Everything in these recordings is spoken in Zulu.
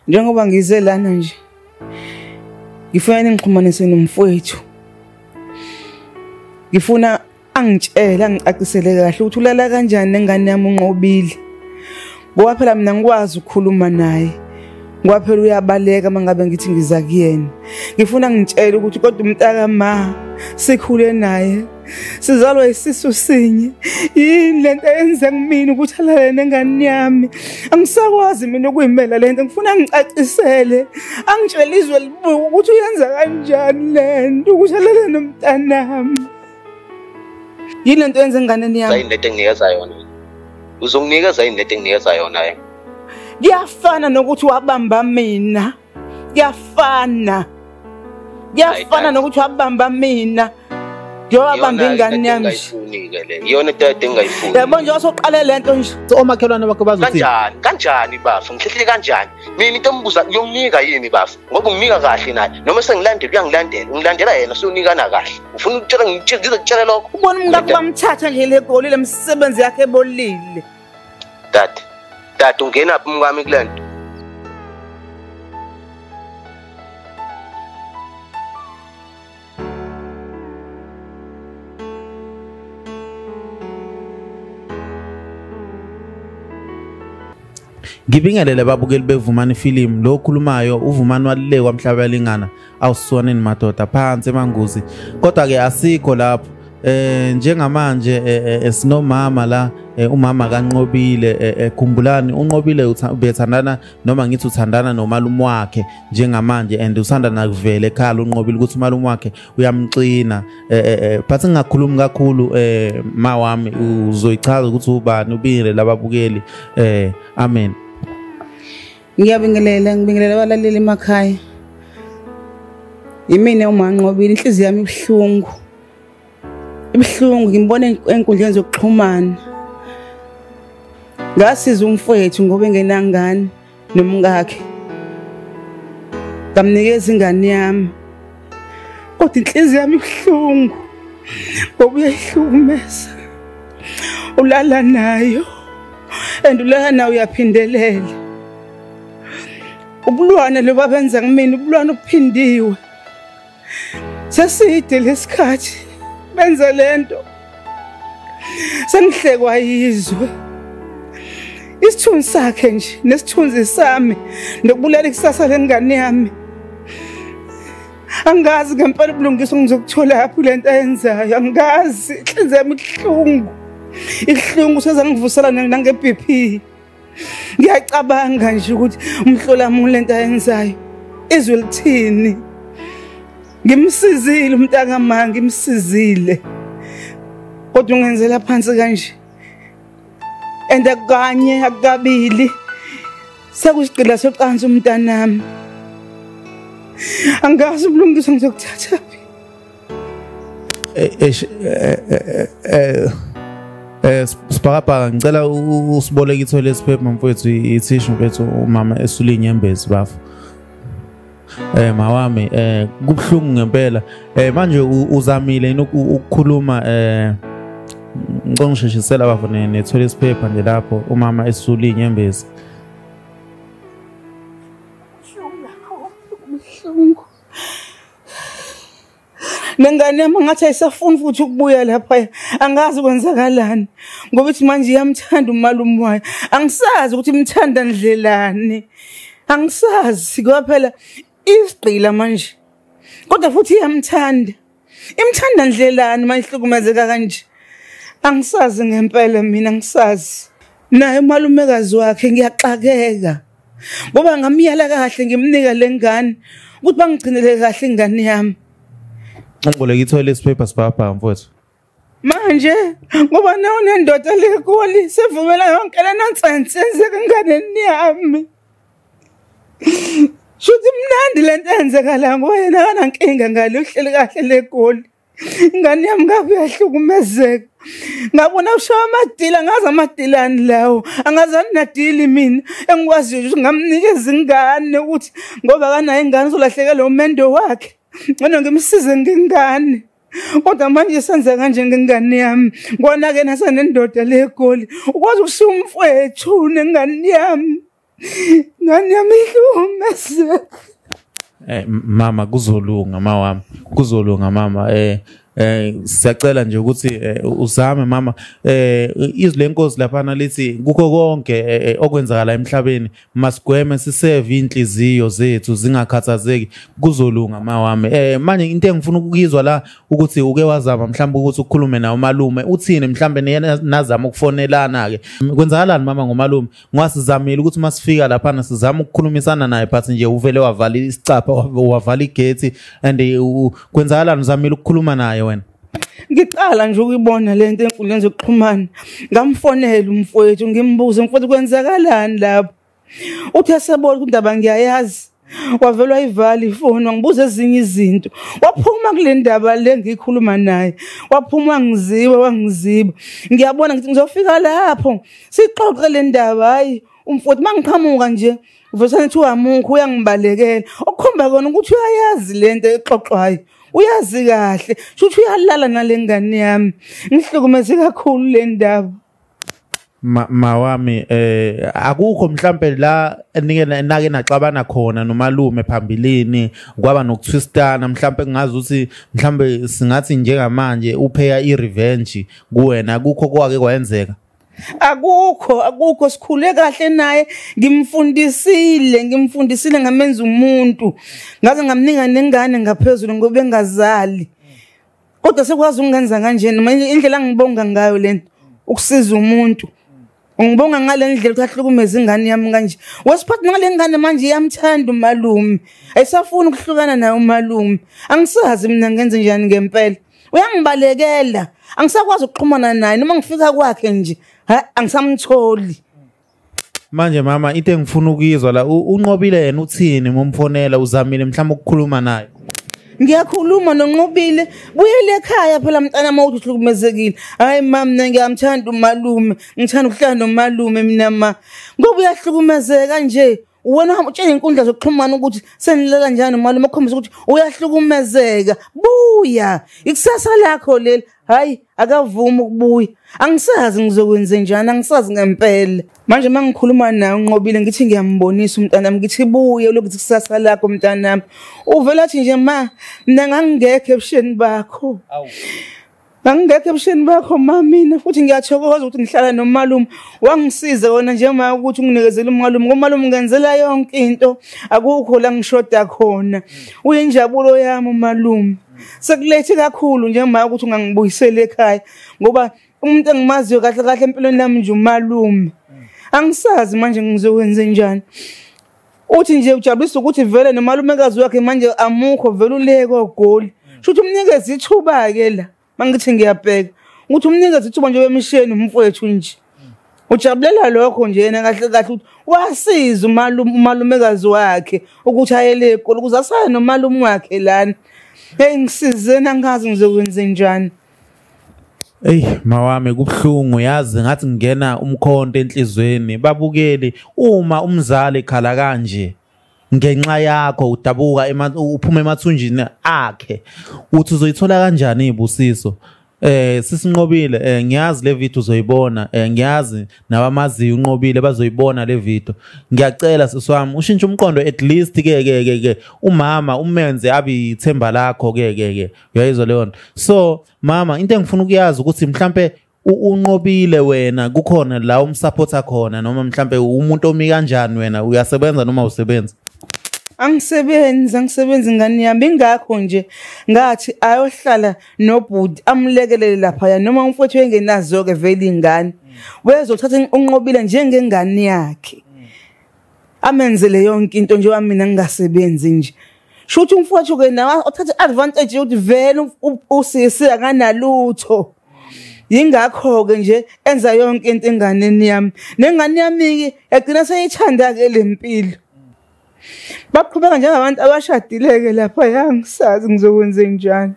njengoba ngize lana nje ngifuna ningixhumanise nomfowethu ngifuna angitshele angicacisele kahle ukuthi ulala kanjani nengane yami unqobile ngoba phela mina ngikwazi ukukhuluma naye ngoba phela uyabaleka uma ngabe ngithi ngiza kuyena ngifuna ngitshele ukuthi kodwa umntakama sikhule naye sizalwa isisu sinye yini lento yenze kumina ukuthi alale nengane yami angisakwazi mina ukuyimela lento ngifuna ngicacisele angitshela izwe libuka ukuthi uyenza kanjani lento ukuthi alale nomntanami yini lento yenze enganeni yami yini lento enginikeza yona uzonginikeza yini lento enginikeza yona yena kuyafana nokuthi wabamba mina kuyafana kuyafana nokuthi wabamba mina ngiyowabamba ingane yami iyona into yade engayifuni yabo nje wasoqale le nto nje omakhelwane bakho bazothi kanjani kanjani bafo ngihlehlile kanjani mina into embuza uyonginika yini bafo ngoba unginika kahle naye noma sengilandela uyangilandela ungilandela yena siyonikana kahle ufuna ukutshela ngitshela ngizokutshela lokho ubona umkakho bamthatha nje le goli le msebenzi yakhe ebolile dade dade ungena phi umkami kule nto ngibingelele babukeli bevumani film lo okhulumayo uvumani walulekwa mhlabalingana awusonini madoda phansi emanguzi kodwa ke asikho lapho eh njengamanje eh, eh, eh, sinomama la umama kanqobile ekhumbulani unqobile ubethandana noma ngithi uthandana nomalume wakhe njengamanje and usanda nakuvela ekhala unqobile ukuthi umalume wakhe uyamxina but ngingakhulumi kakhulu ma wami uzoyichaza ukuthi ubani ubile lababukeli amen ngiyabingelela ngibingelela abalaleli emakhaya yimina umanqobile inhliziyo yami ibuhlungu ibuhlungu ngimbona enkundleni zokuxhumana ngasiza umfowethu ngoba engenangane nomkakhe ngamnikeza ingane yami kodwa inhliziyo yami ibuhlungu ngoba uyayihlukumeza ulala nayo and ulala nayo uyaphindelela ubulwane loba benza kumina ubulwane obuphindiwe seside lesikhathi benza lento sengihlekwa yizwe isithunzi sakhe nje nesithunzi sami nokubulala ikusasa lengane yami angazi ngempela ubulungiswa ngizokuthola apho le nto ayenzayo angazi inhliziyo yami ibuhlungu ibuhlungu sezangivusela nange-b p ngiyacabanga nje ukuthi umhlolamulo lento ayenzayo izwe lithini ngimsizile umntaka ma ngimsizile kodwa ungenzela phansi kanje and akanye akukabili sekusigqila socansi umntanami angazi ubulungiswa ngizokuthatha phi eh, eh, eh, eh eh sibhakabhaka ngicela usiboleke itho lesiphepha mfowethu ithishu mfowethu umama esule inyembezi bafo eh mawami eh kubhlungu ngempela eh manje uzamile yini ukukhuluma eh ngicela ngisheshisela bafo nethola isiphepha nje lapho umama esule inyembezi nengane yami ngathi ayisafuni futhi ukubuya lapha angazi kwenzakalani ngoba ithi manje iyamthanda umalume wayo angisazi ukuthi imthanda ndlelani angisazi kwaphela isigqila manje kodwa futhi iyamthanda Imthanda ndlelani mayihlukumezeka kanje. Angisazi ngempela mina ngisazi. Naye umalumekazi wakhe ngiyaxakeka. Ngoba ngamyala kahle ngimnika lengane ukuthi bangigcinele kahle ingane yami. Ngicela ikithola isiphepha sibhabha mfowethu. manje ngoba nawunendoda lekoli sevumela yonke le nonsense enzeka enganeni yami shuthi mnandi le nto enzeka la ngoba yena akanankinga ngale uhleli kahle legoli ingane yami ngabe uyahlukumezeka ngabona ushawa amadila ngazi amadilani lawo angazani nadili mina engikwaziyo ukuthi ngamnikeza ingane ukuthi ngoba akanayo ingane uzolahlekelwa umendo wakhe ngcono ngimsize ngengane kodwa manje senze kanje ngengane yami kona-ke nasenendoda le goli ukwazi ukushiya umfwethu nengane yami ngane yami ihlukumezeka Eh mama kuzolunga mawami kuzolunga mama eh eh siyacela nje ukuthi eh, uzame mama eh izwi lenkosi lapha nalithi kukho konke eh, eh, okwenzakala emhlabeni masigweme siseve inhliziyo zethu zingakhathazeki kuzolunga mawami eh manje into engifuna ukuyizwa la ukuthi uke wazama mhlawumbe ukuthi ukhulume nawo malume uthini mhlawumbe nazama ukufonelana ke kwenzakalani mama ngomalume ngwasizamile ukuthi masifika lapha na sizama ukukhulumisana naye but nje uvele wavala isicapha wavala igate and kwenzakalani uzamile ukukhuluma naye wena ngiqala nje ukuyibona le nto enkundleni zokuxhumana ngamfonela umfowethu ngimbuze mfowethu kwenzakalani lapho uthi esebona ukuthi indaba ngiyayazi wavelwa ivali ifoni wangibuza ezinye izinto waphuma kule ndaba le ngiyikhuluma naye waphuma wangiziba wangiziba ngiyabona ngithi ngizofika lapho sixoxe le ndaba hhayi umfowethu uma ngiqhamuka nje Uvesane kuthiwa amungu uyangibalekela. Okukhomba kona ukuthi uyayazi lento exoxwayo. Uyazi kahle. Shuthi uyalala nalengane yami. Ngihlukumeze kakhulu le ndaba. mawami eh akukho mhlambe la nike nake naxabana khona nomalume phambilini kwaba nokuthwistana mhlambe kungazi ukuthi mhlambe singathi njengamanje upheya irevenge kuwena akukho kwake kwayenzeka akukho akukho sikhule kahle naye ngimfundisile ngimfundisile ngamenza umuntu ngaze ngamninga nengane ngaphezulu ngoba engazali kodwa sekwazi ukungenza kanjena manje indlela ngibonga ngayo lento ukusiza umuntu ngibonga ngale ndlela ukuthi ahlukumeze ingane yami kanje wesiphathi ngale ngane manje iyamthanda umalume ayisafuni ukuhlukana naye umalume angisazi mina ngenze njani ngempela uyangibalekela angisakwazi ukuxhumana naye noma ngifika kwakhe nje angisamtholi manje mama into engifuna ukuyizwa la unqobile yena uthini momfonela uzamile mhlawumbe ukukhuluma naye ngiyakhuluma nonqobile buyele ekhaya phela mntana mawuthi uhlukumezekile hayi ma mina ngiyamthanda umalume ngithanda ukuhlala nomalume mina ma ngoba uyahlukumezeka nje wena uhamba utshela iy'nkundla zokuxhumana ukuthi senilela njani mali uma ukhombisa ukuthi uyahlukumezeka buya ikusasa lakho leli hhayi akavumi ukubuya angisazi ngizokwenze njani angisazi ngempela manje uma ngikhuluma naye unqobile ngithi ngiyambonisa umntanami ngithi buye lokuthi kusasa lakho mntanami uvela athi nje ma mna ngangingekho ebusheni bakho Ngangingekho ebusheni bakho mama mina futhi ngiyathokoza ukuthi ngihlala nomalume wangisiza wona njengoba ukuthi unginikezele umalume ngomalume ngenzela yonke into akukho la ngishoda khona uyinjabulo yami umalume sekulethe kakhulu njengoba ukuthi ungangibuyisela ekhaya ngoba umuntu engimaziyo kahle kahle empilweni yami nje umalume angisazi manje ngizokwenze njani uthi nje ujabulisa ukuthi vele nomalumekazi wakhe manje amukho vele uleke ogoli sho ukuthi umnikeze ithuba-ke la uma ngithi ngiyabheka ukuthi umnikeze ithuba nje wemisheni umfowethu nje ujabulela lokho nje yena kahle kahle ukuthi wasiza umalumekazi wakhe ukuthi ayele egoli ukuze asale nomalume wakhe lana heyi ngisizeni angazi ngizokwenze njani Ey mawami kubuhlungu yazi ngathi ngingena umkhonto enhlizweni babukeli uma umzali ekhala kanje ngenxa yakho udabuka uphuma emathunjini akhe uthi uzoyithola kanjani ibusiso eh sisinqobile eh ngiyazi le video uzoyibona eh ngiyazi nabamaziyo unqobile bazoyibona le video ngiyacela siswami ushintshe umqondo at least ke ke ke umama umenze abi ithemba lakho ke ke ke uyayizwa leyo nto so mama into engifuna ukuyazi ukuthi mhlampe unqobile wena kukhona la umsupporta khona noma mhlampe umuntu omi kanjani wena uyasebenza noma usebenza angisebenzi angisebenzi ngani yami ingakho nje ngathi ayohlala nobhuti amulekelele laphaya noma umfowethu engenazo-ke vele ingane wezothatha unqobile njengengane yakhe amenzele yonke into njengoba mina ngingasebenzi nje shuthi umfowethu ke nawa othatha advantage yokuthi vele usisi akanalutho yingakho ke nje enza yonke into enganeni yami nengane yami yagcina seyithanda ke lempilo baqhubeka njengabantu abashadile ke lapha yangisazi ngizokwenze njani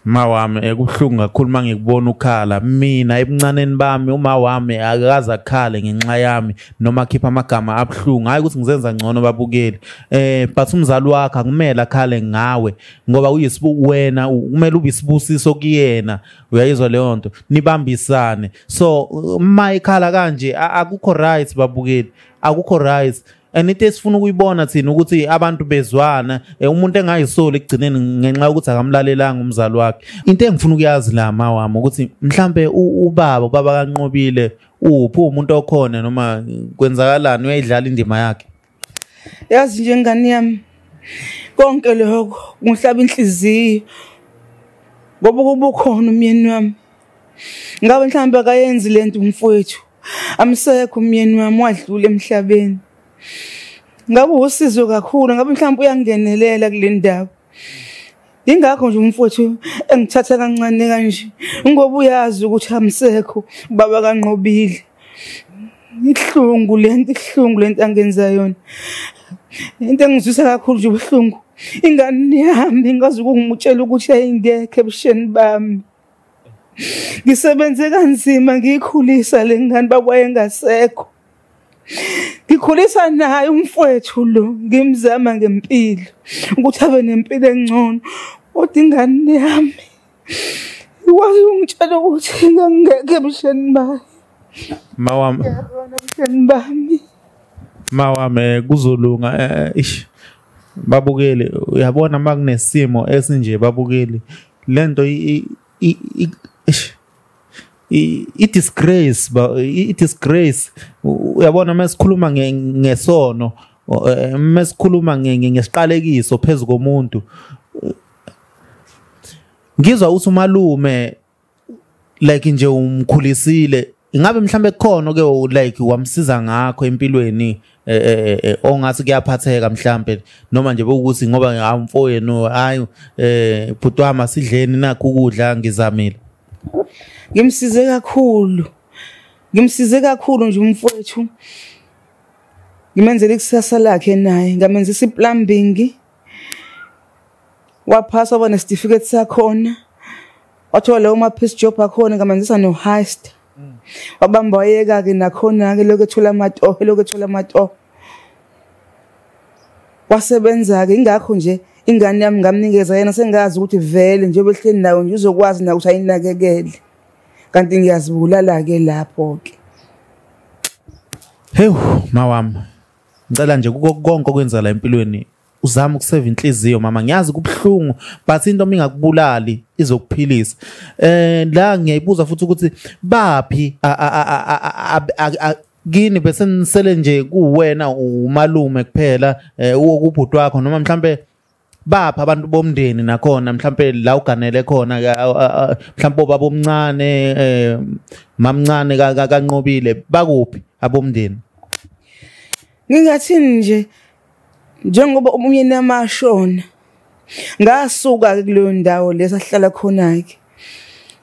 Ma wami ekubuhlungu kakhulu uma ngikubona ukhala mina ebuncaneni bami uma wami akaze akhale ngenxa yami noma akhipha amagama abuhlungu hhayi ukuthi ngizenza ngcono babukeli eh but umzali wakhe akumele akhale ngawe ngoba uyisibu wena kumele ube isibusiso kuyena uyayizwa leyo nto nibambisane so uma ekhala kanje akukho right babukeli akukho right and into esifuna ukuyibona thina ukuthi abantu bezwana eh, umuntu engayisoli ekugcineni ngenxa yokuthi akamlalelanga umzali wakhe into engifuna ukuyazi la ma wami ukuthi mhlambe ubaba ubaba kanqobile uphi umuntu okhona noma kwenzakalani uyayidlala indima yakhe yazi nje ngane yami konke lokho kungihlaba inhliziyo ngoba kubukhona umyeni wami ngabe mhlawumbe akayenzi lento umfowethu amsekho umyeni wami wadlula emhlabeni ngabe usizo kakhulu ngabe mhlawumbe uyangenelela kule ndawo Ingakho nje umfowethu engithatha kancane kanje ngoba uyazi ukuthi amsekho baba kanqobile. Ihlungu lento ihlungu lento angenza yona. Into engizwisa kakhulu nje ubuhlungu. Ingane ihambe ngazi ukungimutshela ukuthi ayingekho ebusheni bami. ngisebenze kanzima ngiyikhulisa le ngane bakwayengasekho ngikhulisa naye umfowethu lo ngimzama ngempilo ukuthi abe nempilo engcono kodwa ingane yami ikwazi ungitshela ukuthi ngangeke ebuhleni bayo ma wami ebuhleni bami ma wami eh, kuzolunga eh, eh, ish babukeli uyabona uma kunesimo esinje babukeli le nto i-disgrace i-disgrace uyabona uma sikhuluma ngesono eh, uma sikhuluma ngesiqalekiso phezu komuntu ngizwa uthi umalume like nje umkhulisile ingabe mhlambe kukhona ke like wamsiza ngakho empilweni eh, eh, eh, ongathi kuyaphatheka mhlambe noma nje bokuthi ngoba ngamfoyenu hayi eh bhuti wami asidleni nakho ukudla ngizamile ngimsize kakhulu ngimsize kakhulu nje umfowethu ngimenzele ikusasa lakhe naye ngamenzisa iplumbing waphasa waba nesitifiketi sakhona wathola lawo ma-piece job akhona ngamenzisa no-heist mm. wabamba wayeka-ke nakhona-ke lokhu ethola amatoho lokhu ethola amatoho wasebenza-ke ingakho nje ingane yami ngamnikeza yena sengazi ukuthi vele njengoba ehleli nayo nje uzokwazi nayo ukuthi ayinakekele kanti ngiyazibulala-ke lapho-ke hewu mawami ngicela nje kuko konke okwenza la empilweni uzama ukuseva inhliziyo mama ngiyazi kubuhlungu but into uma ingakubulali izokuphilisa eh la ngiyayibuza futhi ukuthi baphi kini bese nisele nje kuwena umalume kuphela eh, ubhuti wakho noma mhlambe bapha abantu bomndeni nakhona mhlambe la uganele khona mhlambe obaba omncane eh, mamncane kanqobile bakuphi abomndeni ngingathini nje njengoba umyeni amashona ngasuka kuleyo ndawo lesahlala khona ke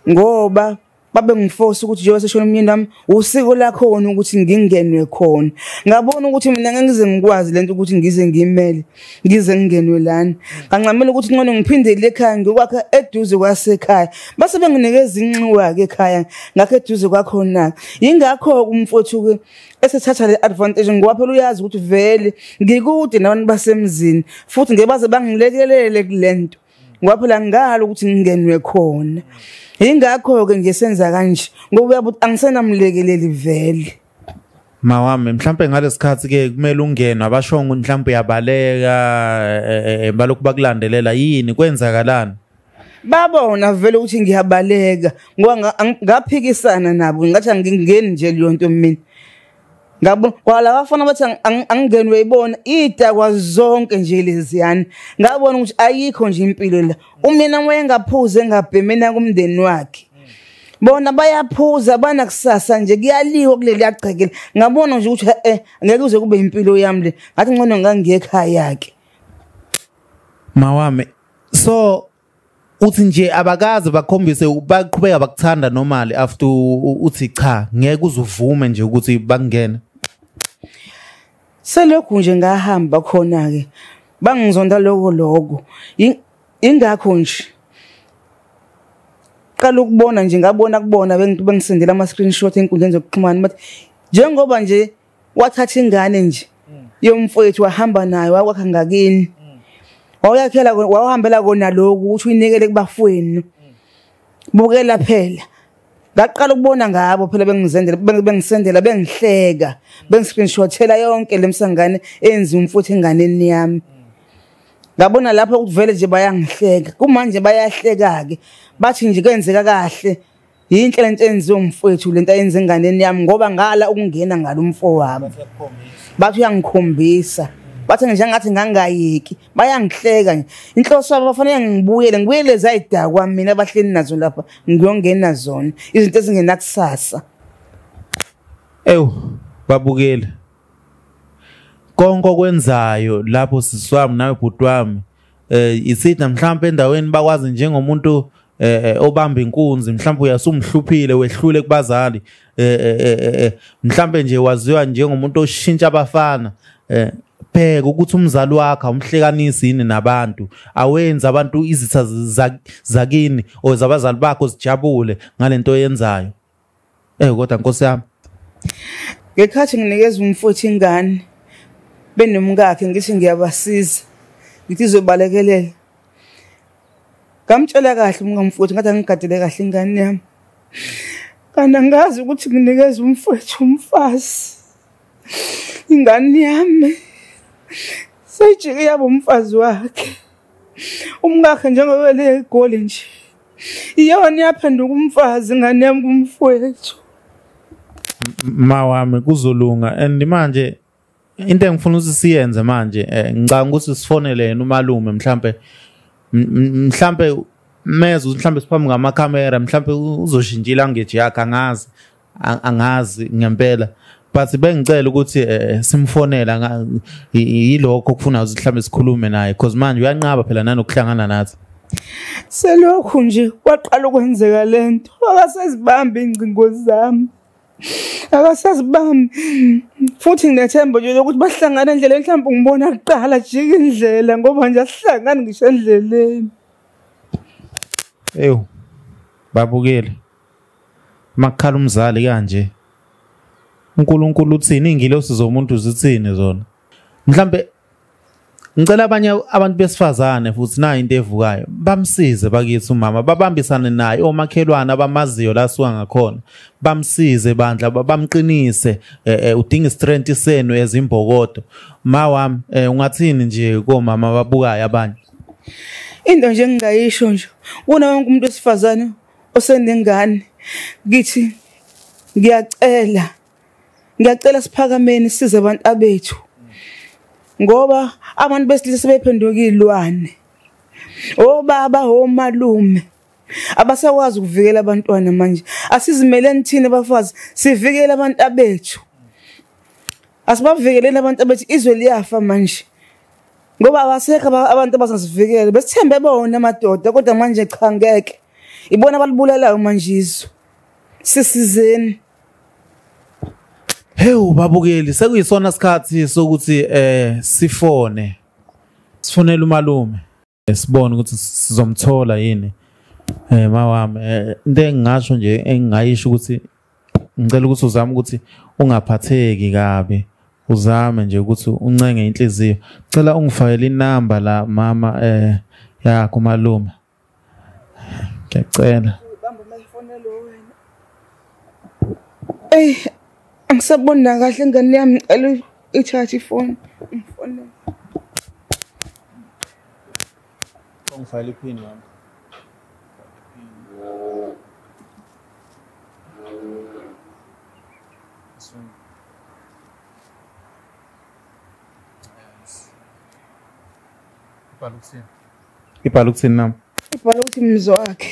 ngoba babe ngifosa ukuthi njengoba seshona umyeni wami usiko lakho wona ukuthi ngingenwe khona ngabona ukuthi mina ngeke ngize ngikwazi lento ukuthi ngize ngimele ngize ngingenwe lana ngancamela ukuthi ncono ngiphindele ekhaya ngikwakhe eduze kwasekhaya base benginikeza inxiwa ke ekhaya ngakho eduze kwakhona yingakho umfowethu ke esethatha le advantage ngoba phela uyazi ukuthi vele ngikude nabantu basemzini futhi ngebaze bangilekelele kulento ngoba phela ngalo ukuthi ngingenwe khona ingakho-ke nje senza kanje ngoba uyabe ukuthi angisenamlekeleli vele mawami mhlawumpe ngalesikhathi-ke kumele ungenwe abashongo mhlawumpe uyabaleka e, e, e, balokhu bakulandelela yini kwenzakalani babona vele ukuthi ngiyabaleka ngoba ngaphikisana nabo ngathi angingeni nje leyo nto mina ngabo kwala bafana bathi angingeni uyayibona idakwa zonke nje leziyani ngabona ukuthi ayikho nje impilo la umyena wayengaphuze engabhemena kumndeni wakhe bona bayaphuza banakusasa nje kuyaliwa kuleli yagcekela ngabona nje ukuthi eh ngeke uze kube impilo yami le ngathi ngcono ngangiyekhaya ke mawami so uthi nje abakaze bakhombise baqhubeka bakuthanda normally after uthi cha ngeke uzuvume nje ukuthi bakungene selokhu nje ngahamba khona ke bangizonda lokho lokho ingakho nje qala ukubona nje ngabona kubona bengisendela ama screenshot enkundleni zokuxhumana bathi njengoba nje wathatha ingane nje mm. yomfowethu wahamba nayo wakwakha ngakini mm. wawuyakhela wawuhambela kona lokhu ukuthi uyinikele kubafowenu mm. bukela phela ngaqala ukubona ngabo phela bengizendela bengisendela bengihleka bengiscreenshothela yonke lemsangane enzi umfuthu enganeni yami ngabona lapho ukuvele nje bayangihleka kumanje bayahleka ke bathi nje kwenzeka kahle yinhle lento enziwe umfowethu lento ayenza enganeni yami ngoba ngala ukungena ngalo mfo wami bathi uyangikhombisa bathi nje ngathi ngangayeki bayangihleka nje inhloso yabo bafanele ngibuyele ngibuyele zayidakwa mina abahleli nazo lapha ngiyongena zona izinto ezingenakusasa ewu babukele konke okwenzayo lapho siswami nawe bhuti wami eh isitha mhlawumbe endaweni bakwazi njengomuntu eh, eh obamba inkunzi mhlawumbe uyasumhluphile wehlule kubazali eh, eh, eh, eh mhlawumbe nje waziwa njengomuntu oshintsha abafana eh bheka ukuthi umzali wakhe awumhlekanisi yini nabantu awenzi abantu izitha zakini or zabazali bakho zijabule ngalento oyenzayo Eh kodwa nkosi yami. Ngekhathi nginikeza umfowethu ingane benomkakhe ngithi ngiyabasiza. Ngithi zobalekelela. Ngamtshela kahle umkamfowethu ngathi angigadele kahle ingane yami. Kanti angazi ukuthi nginikeza umfowethu umfazi. Ingane yami seyijike yabo umfazi wakhe. Umkakhe njengoba le goli nje. iyona yaphenduka umfazi ngane yami kumfowethu ma wami kuzolunga and manje into engifuna ukuthi siyenze manje eh, ngicanga ukuthi sifonele yena umalume mhlampe mhlampe mezwe mhlampe siphambi ngamakhamera mhlampe uzoshintsha ilanguage yakhe angazi angazi ngempela but bengicela ukuthi eh, simfonela yilokho okufuna mhlawumbe sikhulume naye because manje uyanqaba phela nanokuhlangana nathi selokhu nje kwaqala ukwenzeka le nto akasezibambi iy'ngcingo zami akasazibambi futhi nginethemba nje lokuthi bahlangana endleleni mhlawumbe ngibona kuqala jika indlela ngoba nje asihlangani ngisho endleleni ewu babukile makukhala umzali kanje uNkulunkulu uthini ingilosi zomuntu zithini zona mhlambe ngicela abanye abantu besifazane futhi nayo into evukayo bamsize bakithi umama babambisane naye omakhelwane abamaziyo la suka ngakhona bamsize bandla bamqinise eh, eh, udinga istrength senu ezimbokodo ma wami eh, ungathini nje komama babukayo abanye into nje engingayisho nje wona wonke umuntu wesifazane osenengane ngithi ngiyacela ngiyacela siphakameni size abantu abethu ngoba abantu besilisa sebephenduka izilwane obaba omalume abasakwazi ukuvikela abantwana manje asizimeleni thina bafazi sivikele abantu abethu asibavikeleni abantu abethu izwe liyafa manje ngoba abasekho abantu abazosivikela besithembe bona amadoda kodwa manje cha ngeke ibona abalibulalayo manjizo sisizeni Hewu babukeli sekuyisona sikhathi sokuthi eh sifone sifonela umalume eh, sibone ukuthi sizomthola yini eh mawami eh, into engingasho nje engingayisho ukuthi ngicela ukuthi uzame ukuthi ungaphatheki kabi uzame nje ukuthi uncenge inhliziyo cela ungifakele inamba la mama eh yakho malume ngiyacela bamba mayifone lo wena ey angisabona kahle ngane yami ngicela i-charge ifone ngifonele Ungifayele iphini wami. Ibhala ukuthini? Ibhala ukuthini nami? Ibhala ukuthi mzwakhe.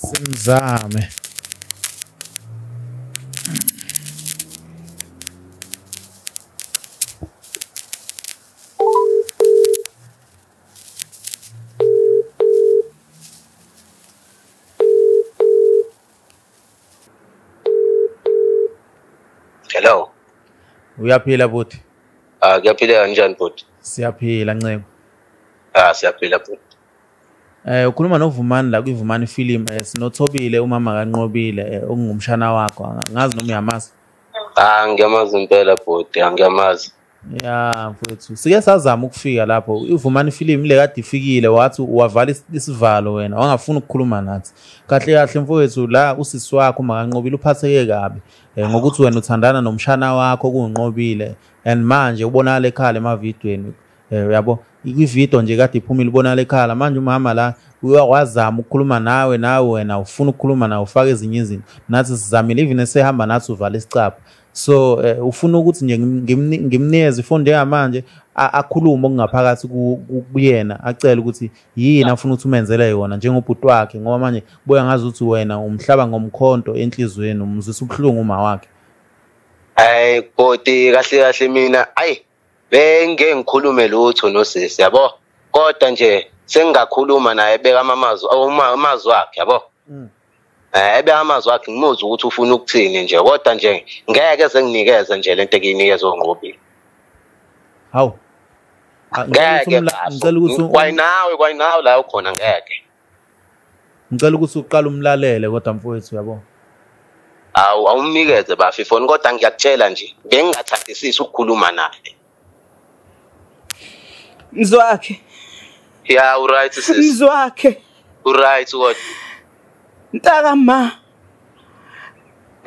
simzame Hello. Uyaphila buti? Ah, kuyaphileka kanjani buti? Siyaphila nceku. Ah, siyaphila buti. Eh ukhuluma noVumani la kwiVumani film eh, sinothobile umama kanqobile eh, ongumshana wakho ngazi noma uyamazi. Ah ngiyamazi impela bhuti angiyamazi. Ya mfethu sike sazama ukufika lapho ivumani film le kade ifikile wathi wavala isivalo wena wangafuni ukukhuluma nathi kahle kahle mfowethu la usisi wakho makanqobile uphatheke kabi eh, ngokuthi wena uthandana nomshana wakho kunqobile and manje ubonakala ekhala emavidweni Eh uyabo ividiyo nje kade iphumile ubonala ekhala manje umama la wazama ukukhuluma nawe nawe wena ufuna ukukhuluma nawe ufake ezinye izinto nathi sizamile even esehamba nathi uvala isicapha so uh, ufuna ukuthi nje ngimnikeze ifoni njengamanje akhulume okungaphakathi kuyena acele ukuthi yini afuna ukuthi umenzele yona njengobhuti wakhe ngoba manje boya ngazi ukuthi wena umhlaba ngomkhonto enhliziyweni umzisa ubuhlungu uma wakhe hayi bhoti kahle kahle mina ayi bengeke ngikhulume lutho nosisi yabo kodwa nje sengingakhuluma naye beka amazwi amazwi wakhe yabo mm. eh ebe amazwi akhe ngimuzwa ukuthi ufuna ukuthini nje kodwa nje ngeke senginikeze nje lento ekinikeza ongqobile hawu ngeke ngicela ukuthi kwayinawe kwayinawe la ukhona ngeke ngicela ukuthi uqale umlalele kodwa mfowethu yabo awu awumnikeze bafi foni kodwa ngiyakutshela nje bengingathandisisi ukukhuluma naye mzwakhe ya uright sis mzwakhe uright what ntaka ma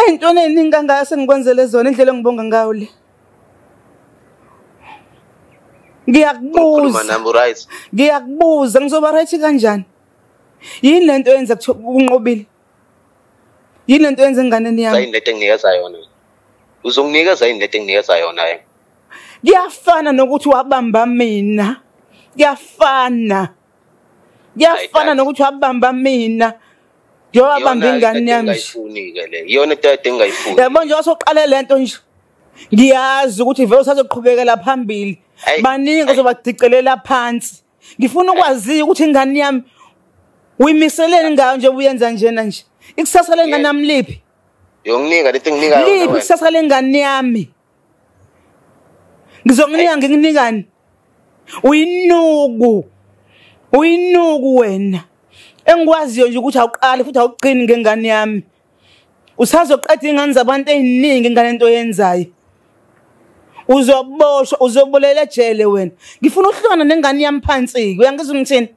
entweni eningi kangaka sengikwenzele zona indlela engibonga ngayo le ngiyakubuza ngiyakubuza ngizoba right kanjani yini lento yenza kuthiwa kunqobile yini lento yenza enganeni yami yini lento enginikeza yona uzonginikeza yini lento enginikeza yona yena kuyafana nokuthi wabamba mina kuyafana kuyafana nokuthi wabamba mina ngiyowabamba ingane yami iyona into yade engayifuni yabo nje wasoqale le nto nje ngiyazi ukuthi vele usazoqhubekela phambili baningi ozobadicelela phansi ngifuna ukwaziyo ukuthi ingane yami uyimiseleni ngayo nje uyenza njena nje ikusasa lengane yami liphi yonginika lento enginikayo liphi ikusasa lengane yami ngizonginika ngikunikani uyinuku uyinuku wena engikwaziyo nje ukuthi awuqali futhi awuqini ngengane yami usazoqeda iy'ngane zabantu ey'ningi ngale nto yenzayo uzoboshwa uzobolela ejele wena ngifuna uhlukana nengane yami phansi-ke uyangizwa ngithini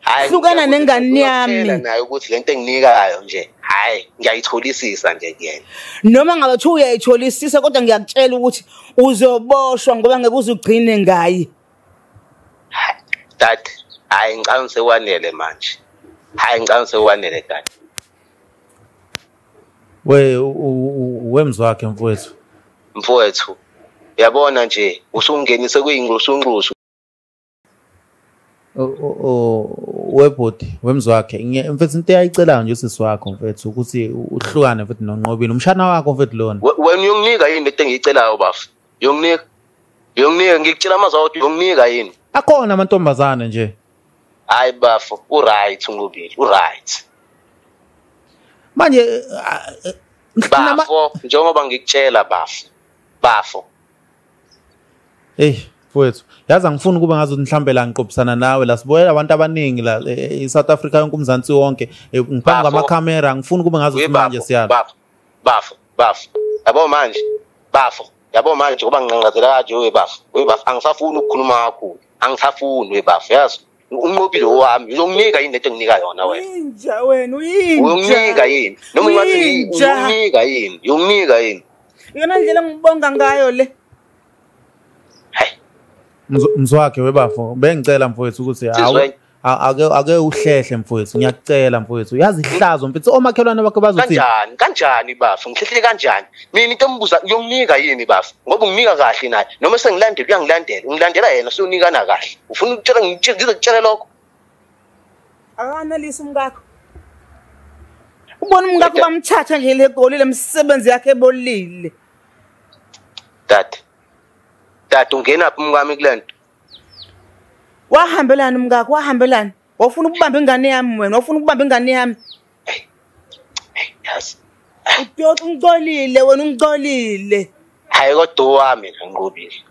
hayi hlukana nengane yami nayo ukuthi lento enginikayo nje hayi ngiyayitholisisa nje kuyena noma ngabe kuthiwa uyayitholisisa kodwa ngiyakutshela ukuthi uzoboshwa ngoba ngeke uze ugcine ngaye dad hayi ngicabanga sekwanele manje hayi ngicabanga sekwanele dad we wemzwakhe mfowethu mfowethu yabona nje usungenise kuyingqusungqusu webhodi wemzi wakhe mfethu into eyayicelayo nje usisi wakho mfethu ukuthi uhlukane mfethu nonqobile umshana wakho mfethu lona wena uyonginika yini into engiyicelayo bafo uyonginika uyonginika ngikutshela amazwi awodwa uyonginika yini akhona amantombazane nje hayi bafo uright unqobile uright manje bafo njengoba ngikutshela bafo bafo Ey mfowethu yazi angifuni ukuba ngazi ukuthi mhlawumbe la ngiqophisana nawe la sibuyela abantu abaningi la e, e, e-south africa yonke umzansi wonke ngiphambi kwamakhamera angifuni ukuba ngazi ukuthi manje siyala bafo bafo bafo yabo manje bafo yabo manje ngoba nginqanqazela kanje we bafo we bafo angisafuni ukukhuluma kakhulu angisafuni we bafo yazi unqobile owami uzonginika yini lento enginika yona wena inja wena uyinja uyonginika yini noma ungathi uyonginika yini uyonginika yini iyona ndlela engibonga ngayo le mzwakhe webafo bengicela mfowethu ukuthi ake ake uhlehle mfowethu ngiyakucela mfowethu yazi ihlazo mfethu omakhelwane bakho bazothi kanjani kanjani bafo ngihlehle kanjani mina into embuza uyomnika yini bafo ngoba unginika kahle naye noma sengilandela uyangilandela ungilandela yena sewunikana kahle ufuna ukutshela ngize kutshele lokho akanalisa umkakho ubona umkakho bamthatha nje le goli le msebenzi yakhe ebolile dade dade ungena phi umkami kule nto wahambelani umkakho wahambelani wafuna ukubamba ingane yami wena wafuna ukubamba ingane yami udoxa ungicolile wena ungicolile hayi kodwa owami ngiqubile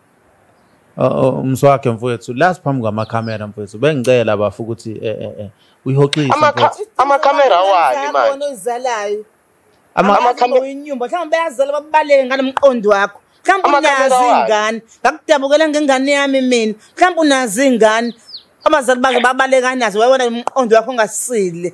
umswakhe mfowethu last phambi kwamakhamera mfowethu bengicela bafu ukuthi eh, eh, eh, uyihoxise amakhamera awani manje ozalayo amakhaminyumba mhlawumbe bayazala babaleke ngalo mqondo wakho mhlawumbe unazi ingane ngakudabukela ngengane yami mina mhlawumbe unazi ingane abazali bake babalekanazo wayewona umqondo wakho ongasile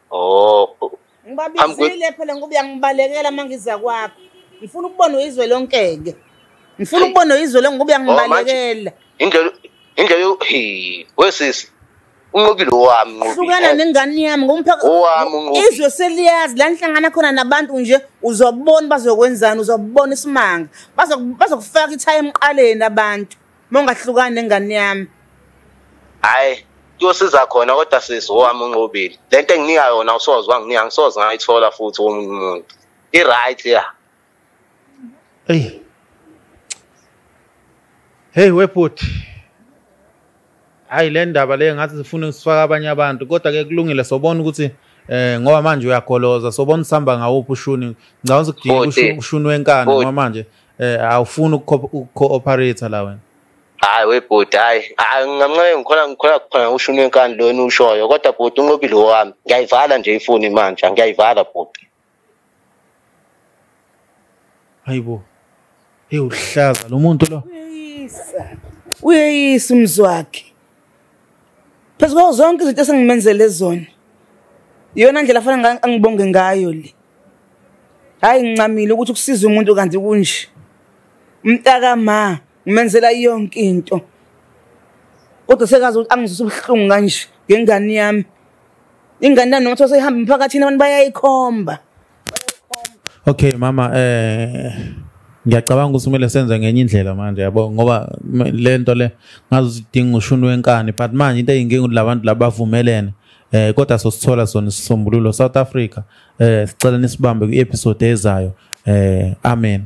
oh ngibabizile phela ngoba uyangibalekela uma ngiza kwakho ngifuna ukubona uyizwe lonke-ke ngifuna ukubona uyizwe lonke ngoba uyangibalekela oh, indlela indlela wesisi unqobile owami nqobile hlukana nengane yami ngomphaka owami unqobile izwe seliyazi la nhlangana khona nabantu nje uzobona bazokwenzani uzobona isimanga bazokufaka ithayi emqaleni abantu mongahlukani nengane yami hayi kuyosiza khona kodwa sisi owami unqobile le nto enginika yona usoze wanginika ngisoze ngayithola futhi womunye umuntu i-right ya eyi heyi webhuti hayi le ndaba le ngathi zifuna sifaka abanye abantu kodwa ke kulungile sobona ukuthi eh ngoba manje uyagoloza sobona usihamba ngawuphi ushuni ngicabanga ukuthi kudinga ushuni wenkani ngoba manje eh awufuni ukuco-operator la wena hayi webhuti hayi hayi ngamncane ngikhona ngikhona kuphana ushuni wenkani lona ushoyo kodwa bhuti unqobile wami ngiyayivala nje ifoni manje ngiyayivala bhuti hayi bo hey uhlaza lo muntu lo uyeyisa uyeyisa umzi wakhe phezu kwawo zonke izinto esengimenzele zona iyona ndlela fanele angibonge ngayo le hhayi ngincamile ukuthi kusiza umuntu kanti kunje umntaka ma ngimenzela yonke into kodwa sekazi ukuthi angizwisa ubuhlungu kanje ngengane yami ingane nami noma those ihamba emphakathini abantu bayayikhomba okay mama eh ngiyacabanga ukuthi kumele senze ngenye indlela manje yabo ngoba le nto le ngazi udinga ushuni wenkani but manje into eyinkinga ukuthi labantu labavumelene eh kodwa sosithola sona isisombululo South Africa eh sicela nisibambe kwi-episode ezayo eh amen